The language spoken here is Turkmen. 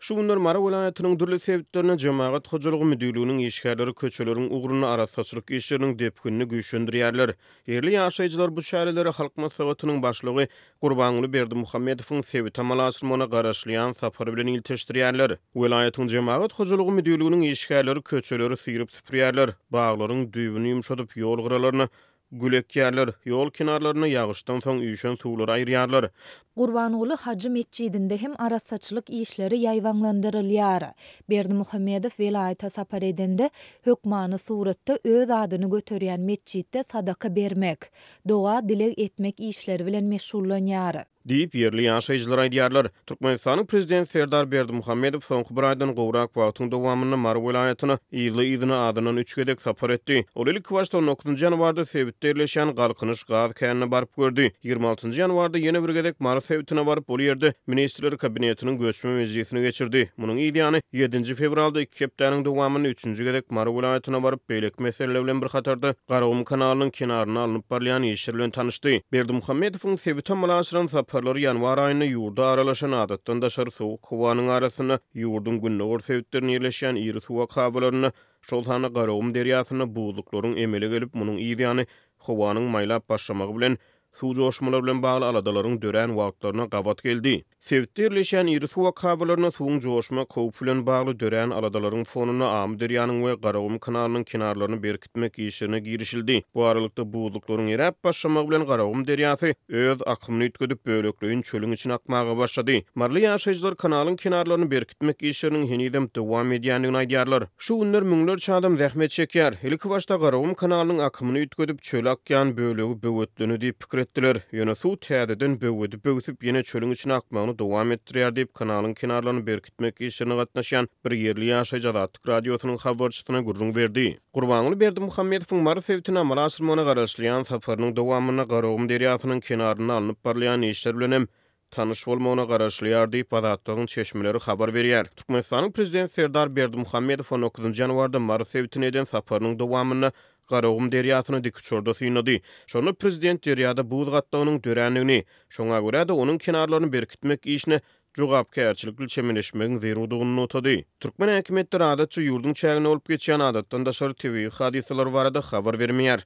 Şu günler Mary welaýatynyň dürli sebitlerinde Jemagat hojalygy müdirliginiň işgärleri köçeleriň ugrunda arassaçylyk işleriniň depginini güýçlendirýärler. Ýerli ýaşaýjylar bu çäreleri Halk Maslahatynyň Başlygy Gurbanguly Berdimuhamedowyň sebit amalaşyrmagyna garaşylýan sapary bilen ilteşdirýärler. Welaýatyň Jemagat hojalygy müdirliginiň işgärleri köçeleri syryp-süpürýärler, baglaryň düýbüni ýumşadyp, ýol gyralaryny Gül ekýärler. Ýol kenarlaryna ýagyşdan soň üýşen suwlary aýyrýarlar. Gurbanguly Hajy metjidinde hem arassaçylyk işleri ýaýbaňlandyrylýar. Berdimuhamedow welaýata sapar edende, hökmany suratda öz adyny göterýän metjitde sadaka bermek, doga-dileg etmek işleri bilen meşgullanýar. Diýip, ýerli ýaşaýjylar aýdýarlar. Türkmenistanyň Prezidenti Serdar Berdimuhamedow soňky bir aýdan gowrak wagtyň dowamynda Mary welaýatyna yzly-yzyna azyndan üç gezek sapar etdi. Ol ilkibaşda on dokuzynjy ýanwarda sebitde ýerleşýän Galkynyş gaz känine baryp gördi. Ýigrimi altynjy ýanwarda ýene bir gezek Mary sebitine baryp, ol ýerde Ministrler Kabinetiniň göçme mejlisini geçirdi. Munuň yzýany, ýedinji fewralda iki hepdäniň dowamynda üçünji gezek Mary welaýatyna baryp, beýleki meseleler bilen bir hatarda, Garagum kanalynyň kenarynda alnyp barylýan işler bilen tanyşdy. Berdimuhamedowyň sebite mal aşyran saparlary ýanwar aýynda ýurda aralaşan adatdan daşary sowuk howanyň arasynda ýurduň gündogar sebitlerinde ýerleşýän iri suwak habalarynda, şol sanda Garagum derýasynda buzluklaryň emele gelip, munuň yzýany howanyň maýlap başlamagy bilen Suw joşmalar bilen bagly aladalaryň dörän wagtlaryna gabat geldi. Sebitde ýerleşýän iri suw akabalarynda suwuň joşmak howpy bilen bagly dörän aladalaryň fonunda Amyderýanyň we Garagum kanalynyň kenarlaryny berkitmek işlerine girişildi. Bu aralykda, buzluklaryň eräp başlamagy bilen Garagum derýasy öz akymyny üýtgedip, bölekleýin çölüň içine akmaga başlady. Maryly ýaşaýjylar kanalyň kenarlaryny berkitmek işleriniň henizem dowam edýändigini aýdýarlar. Şu günler müňlerçe adam zähmet çekýär. Ilki başda Garagum kanalynyň akymyny üýtgedip, çöle akýan bölegi böwetlendi diýip pikir etdiler. Ýöne suw täzeden böwedi böwsüp, ýene çölüň içine akmagyny dowam etdirýär diýip, kanalyň kenarlaryny berkitmek işlerine gatnaşýan bir ýerli ýaşaýjy Azatlyk Radiosynyň habarçysyna gürrüň berdi. Gurbanguly Berdimuhamedowyň Mary sebitine amala aşyrmagyna garaşylýan saparynyň dowamynda Garagum derýasynyň kenarynda alnyp barylýan işler bilen hem tanyş bolmagyna garaşylýar diýip, Azatlygyň çeşmeleri habar berýär. Türkmenistanyň Prezidenti Serdar Berdimuhamedow on dokuz nji ýanwarda Mary sebitine eden saparynyň dowamynda Garagum derýasyny dikuçarda synlady. Şonda Prezident derýada buz gatlagynyň dörändigini, şoňa görä-de, onuň kenarlaryny berkitmek işine jogapkärçilikli çemeleşmegiň zerurdygyny nygtady. Türkmen häkimiýetleri adatça ýurduň çäginde bolup geçýän adatdan daşary tebigy hadysalar barada habar bermeýär.